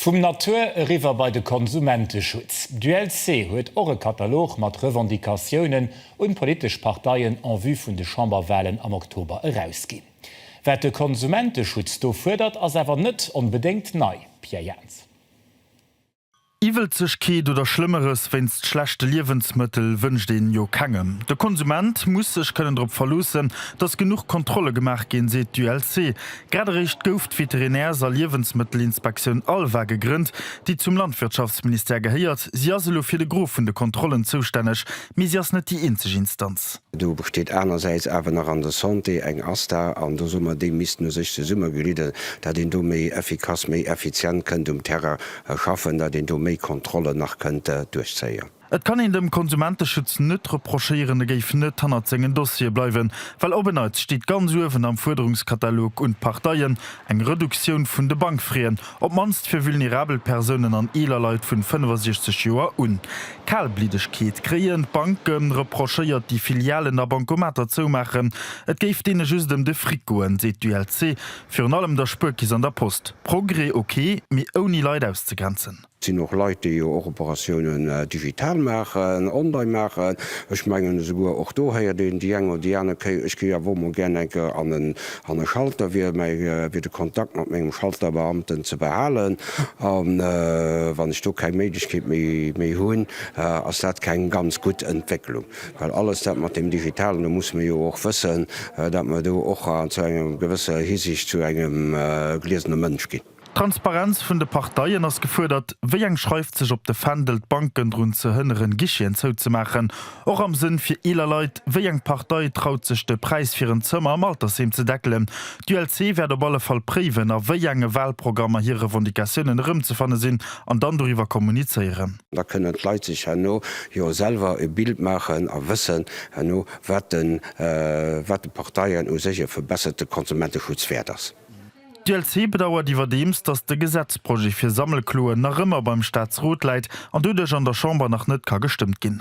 Vum Natur eriwwer bei de Konsumenteschutz. D'ULC huet och e Katalog mat Revendicatiounen un d'politesch Parteien en vue vun de Chamberwahlen am Oktober erausginn. Wat de Konsumenteschutz do fuerdert, ass awer net onbedéngt nei, Pierre Jaentz. Iwwelzegkeet oder Schlëmmeres wéinst schlechte Liewensmëttel wënscht een jo kengem. De Konsument muss sech kënnen drop verloossen, datt genuch Kontrolle gemaach ginn, seet d'ULC. Grad eréischt gouf d'Veterinärs a Liewensmëttelinspektioun ALVA gegrënnt, déi zum Landwirtschaftsministère gehéiert. Si ass elo fir de Gros vun de Kontrollen zoustänneg, mee si ass net déi eenzeg Instanz. Do besteet anersäits awer nach an der Santé eng ASTA an do soe mer, déi missten u sech zesummeglidden, datt een do méi effikass, méi effizient kënnt um Terrain schaffen, datt een do méi Kontrollen nach kënnt duerchzéien. Et kann een dem Konsumenteschutz net reprochéieren, e géif net hannert sengen Dossiere bleiwen, well op en Neits steet ganz uewen am Fuerderungskatalog un d'Parteien eng Reduktioun vun de Bankfraien, op d'mannst fir vulnerabel Persounen an eeler Leit vun 65 Joer un. Kalbliddegkeet kréien d'Banke reprochéiert, déi Filialen a Bancomater zoumaachen, et géif deene just ëm de Fric goen, seet d'ULC. Virun allem der Spuerkeess an der Post. Progrès ok, mee ouni Leit auszegrenzen. Et sinn och Leit, déi jo och Operatiounen digital maachen, online maachen. Ech mengen, esouguer och do héiert een déi eng oder déi aner Kéier, Ech géif awer emol gär eng Kéier an e Schalter, wier mei fir de Kontakt mat mengem Schalterbeamten ze behalen. A wann ech do keng Méiglechkeet méi hunn, ass dat keng ganz gutt Entwécklung. Well alles dat mat deem Digitalen, do musse mir jo och wëssen, datt mer do och zu enger gewësser Hisiicht zu engem gliesene Mënsch ginn. D'Transparenz vun de Parteien ass gefuerdert. Wéi eng schreift sech op de Fändel, d'Banken drun ze hënneren, Guicheten zouzemaachen? Och am Sënn fir eeler Leit. Wéi eng Partei traut sech, de Präis fir en Zëmmer am Altersheem ze deckelen? D'ULC wäert op alle Fall préiwen, a wéi enge Walprogrammer hir Revendicatiounen erëmzefanne sinn, an dann doriwwer kommunizéieren. Da kënnen d'Leit sech herno jo selwer e Bild maachen a wëssen herno, wat de wat de Parteien u sech e verbesserte Konsumenteschutz wäert ass. D'ULC bedauert iwwerdeems, datt de Gesetzprojet fir Sammelkloen nach ëmmer beim Staatsrot läit an doduerch an der Chamber nach net ka gestëmmt ginn.